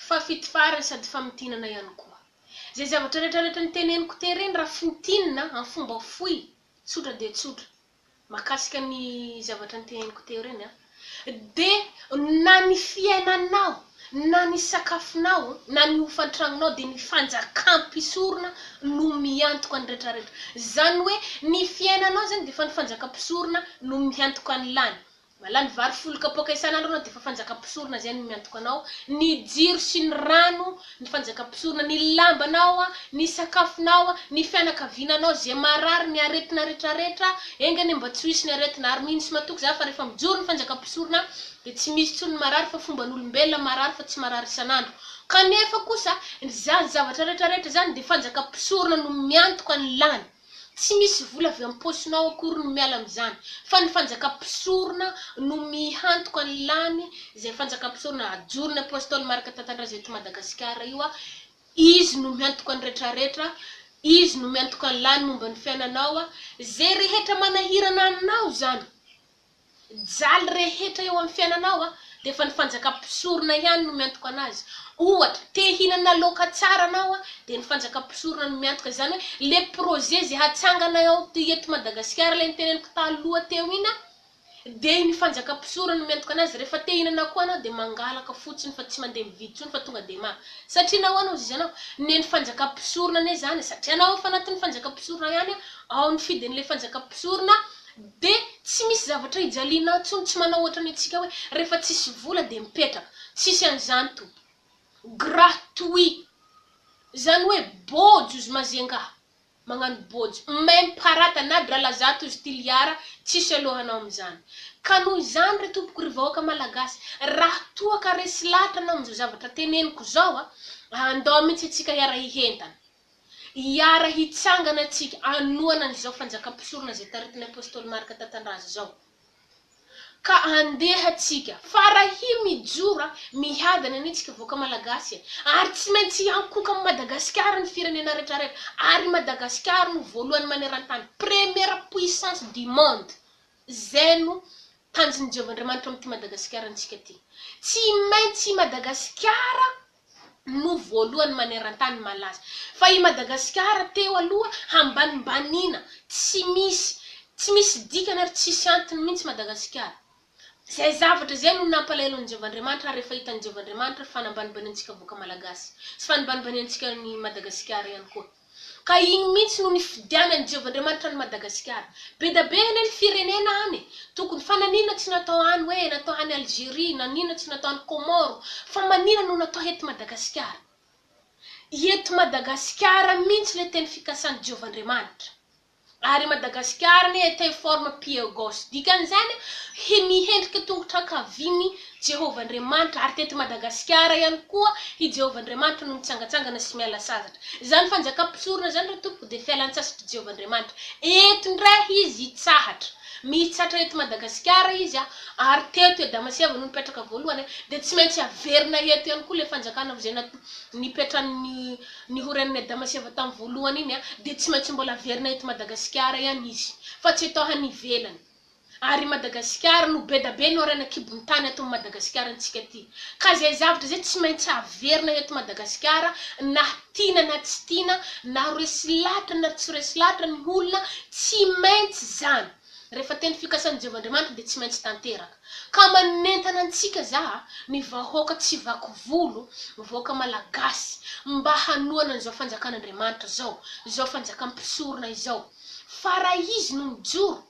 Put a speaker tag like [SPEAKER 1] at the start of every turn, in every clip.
[SPEAKER 1] Fafitfahran sady famintinana ihany koa. Izay zavatra rehetra rehetra niteneniko tery ireny raha fintinina amin'ny fomba fohy, tsotra dia tsotra, mahakasika ny zavatra niteneniko teo ireny an, dia na ny fiainanao, na ny sakafonao, na ny hofan-tranonao dia ny fanjakam-pisorona no miantoka ny rehetra rehetra. Izany hoe ny fiainanao izany dia efa ny fanjakam-pisorona no miantoka an'ilany. Malany vary folo kapoaka isan'andro anao dia efa fanjakam-pisorona izay no miantoka anao, ny jiro sy ny rano, ny fanjakam-pisorona, ny lambanao, ny sakafonao, ny fianakaviananao, izay marary, ny aretina rehetra rehetra, enga anie mba tsy ho hisy ny aretina, ary mino sy matoky za fa rehefa mijoro ny fanjakam-pisorona dia tsy misy intsony ny marary fa fomban'olombelona marary fa tsy marary isan'andro, kanefa kosa izany zavatra rehetra rehetra izany dia fanjakam-pisorona no miantoka ny lany. Tsy misy vola avy am-paosinao akory no miala amin'izany, fa ny fanjaka mpisorona no mihantoka ny lany, izay fanjaka mpisorona ajoron'ny Apostoly Marc Tantandraza eto Madagasikara io aho, izy no mihantoka ny retraretra, izy no mihantoka ny lany momba ny fiainanao, izay rehetra manahirana anao izany. Jaly rehetra eo amin'ny fiainanao dia efa ny fanjakam-pisorona ihany no miantoka anazy. Ohatra, te hihinana laoka tsara anao dia ny fanjakam-pisorona no miantoka izany hoe ilay projet izay hatsangana eo eto Madagasikara ilay noteneniko taloha teo iny dia ny fanjakam-pisorona no miantoka anazy. Rehefa te hihinana koa anao dia mangalaka fotsiny fa tsy mandeha mividy intsony fa tonga dia maka. Satria nahoana hozy ianao? Ny ny fanjakam-pisorona anie izany satria anao efa anatin'ny fanjakam-pisorona ihany ao ny fidin'ilay fanjakam-pisorona Dia tsy misy zavatra ijaliana intsony tsy manao ohatran'ny antsika hoe rehefa tsisy vola dia mipetraka. Tsisy an'izany tompoko. Gratuit. Izany hoe bôjo zy mazenga. Magnano bôjo. Même pas rata na drala zato zy tiliara tsisy aloha hanao amin'izany. Ka noho izany re tompoko ry vahoaka malagasy raha toa ka resy lahatra anao amin'izao zavatra teneniko izao a, andao mihitsy antsika hiara-hihentana. Hiara hitsangana antsika hanohana an'izao fanjakam-pisorona izay taritin'ny Apostoly Marka Tatandraza izao. Ka andeha tsika, fa rahia mijora mihadana anie tsika vahoaka Malagasy e! Ary tsy maintsy hiankohoka amin'i Madagasikara ny firenena retraretra, ary i Madagasikara no voalohany manerantany, première puissance du monde! Zay no tanjon'i Jehovah Andriamanitra amin'ity Madagasikara antsika ty. Tsy maintsy i Madagasikara no voalohany manerantany malaza. Fa i Madagasikara teo aloha hambanimbaniana tsy misy tsy misy dikany ary tsisy antony mintsy Madagasikara. Zay zavatra zay no nampalahelo an'i Jehovah Andriamanitra ary rehefa hitan'i Jehovah Andriamanitra fa nambanibaniantsika vahoaka malagasy sy fa nibanibaniantsika an'i Madagasikara ihany koa. Ka iny mintsy no nifidianan'i Jehovah Andriamanitra an'i Madagasikara. Bedabe anie ny firenena any e! Tokony fa nanina tsy natao any hoe natao any Algerie, nanina tsy natao any Comore, fa manina no natao eto Madagasikara. Eto Madagasikara mintsy le teny fikasan'i Jehovah Andriamanitra. Ary Madagasikara anie te forme pieu gauche. Dikan'izany, hi mihendrika tongotra ankavian'i Jehovah Andriamanitra, ary teto Madagasikara ihany koa i Jehovah Andriamanitra no mitsangatsangana sy miala sasatra. Izany fanjakam-pisorona izany, ry tompoko, dia fialan-tsasatr'i Jehovah Andriamanitra. Eto indray izy hitsahatra. Mitsatra eto Madagasikara izy, ary teto i Adama sy Eva no nipetraka voalohany, dia tsy maintsy haverina eto ihany koa ilay fanjakana ho izay nat nipetrany ny Ny ho renin'i Adama sy Eva tamin'ny voalohany iny dia tsy maintsy mbola haverina eto Madagasikara ihany izy fa tsy atao any ivelany. Ary i Madagasikara no be da be no harena kibon'ny tany ato amin'ny Madagasikara antsika ity. Ka izay zavatra izay tsy maintsy haverina eto Madagasikara na tiana na tsy tiana, na ho resy lahatra na tsy ho resy lahatra ny olona, tsy maintsy izany. Rehefa teny fikasan'i Jehovah Andriamanitra dia tsy maintsy tanteraka. Ka manentana antsika za, ny vahoaka tsy vaky volo, ny vahoaka malagasy, mba hanohana an'izao fanjakan'Andriamanitra izao, izao fanjakan'ny mpisorona izao. Fa raha izy no mijoro,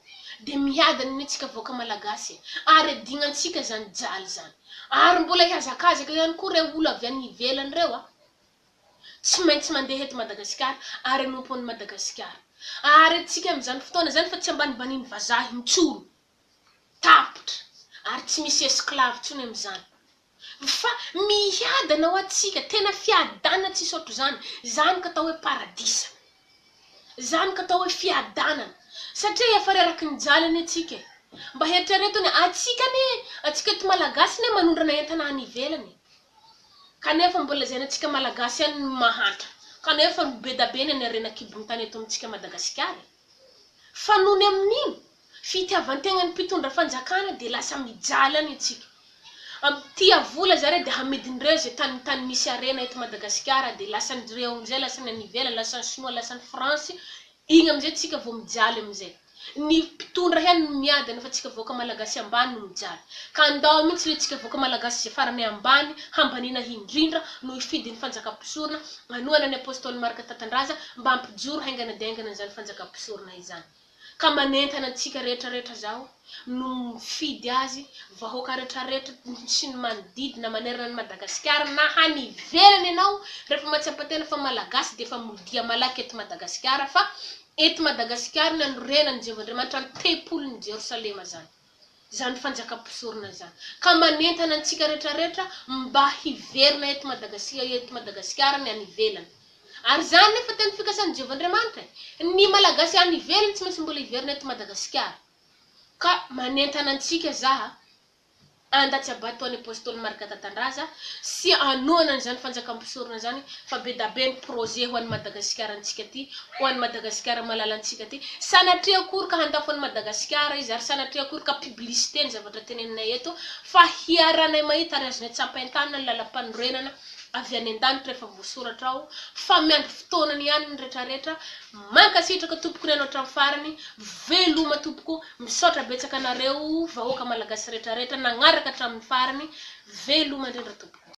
[SPEAKER 1] dia miadana anie antsika vahoaka malagasy e! Ary adignantsika izany jaly izany. Ary mbola hihazakazaka ihany koa ireo olo avy any ivelany ireo a! Tsy maintsy mandeha eto Madagasikara ary hanompo an'i Madagasikara. Aharentsika amin'izany fotoana izany fa tsy ambanimbanian'ny vazaha intsony. Tapitra ary tsy misy esclave intsony amin'izany. Fa miadana ho antsika, tena fiadanana tsisy ohatr'izany. Izany ka atao hoe paradisa. Izany ka atao hoe fiadanana. Satria efa reraky ny jaly anie tsika e. Mba eritrereto anie, antsika anie, antsika eto Malagasy anie manondrana entana any ivelany e. Kanefa mbola lazaina antsika Malagasy ihany ny mahantra, kanefa no be da be ny any harena an-kibon'ny tany eto amintsika Madagasikara e! Fa nony amin'iny fitiavan-tegnan'ny mpitondra fanjakana dia lasa mijaly any antsika. Am, tia vola zareo dia hamidin'ireo izay tany tany misy harena eto Madagasikara dia lasan'ireo amin'izay lasa ny any ivelany, lasan'ny sinoa, lasan'ny frantsy, Igny amizay tsika vo mijaly amizay. Ny mpitondra ihany no miadany fa tsika vahoaka malagasy ambany no mijaly. Ka andao mintsy le tsika vahoaka malagasy izay farany ambany hambaniana hindrindra no hifidy ny fanjaka mpisorona anohana ny apostoly Marc Tatandraza mba hampijoro haingana dia haingana izany fanjaka mpisorona izany. Ka manentana antsika rehetra rehetra zaho. no mifidy azy, vahoaka retraretra sy ny manodidina manerana an'i Madagasikara na hany ivelany ianao refa matsiapatena fa malagasy de efa modia malaky eto Madagasikara fa eto Madagasikara no anorenan'i Jehovah Andriamanitra ny tempolin'i Jerosalema zany zany fanjaka mpisorona zany ka manentana antsika retraretra mba hiverina eto Madagasia eto Madagasikara ny any ivelany Ary izany nefa tena fikasan'i Jehovah Andriamanitra e! Ny Malagasy any ivelany tsy maintsy mbola hiverina eto Madagasikara. Ka manentana antsika za a, anda tsy habato an'i Apostoly Marc Tatandraza sy hanohana an'izany fanjakam-pisorona izany fa be da be ny projet ho an'i Madagasikara antsika ty, ho an'i Madagasikara malalantsika ty. Sanatria akory ka handafo an'i Madagasikara izy ary sanatria akory ka publicité ny zavatra teneninay eto fa hiaranay mahita ary azonay tsapain-tanana ny lalam-panorenana avy any an-danitra efa voasoratra ao fa miandry fotoanany ihany ny retraretra, mankasitraka tompoko reno hatramin'ny farany, veloma tompoko, misaotra betsaka anareo vahoaka malagasy retraretra nagnaraka hatramin'ny farany, veloma indrindra tompoko.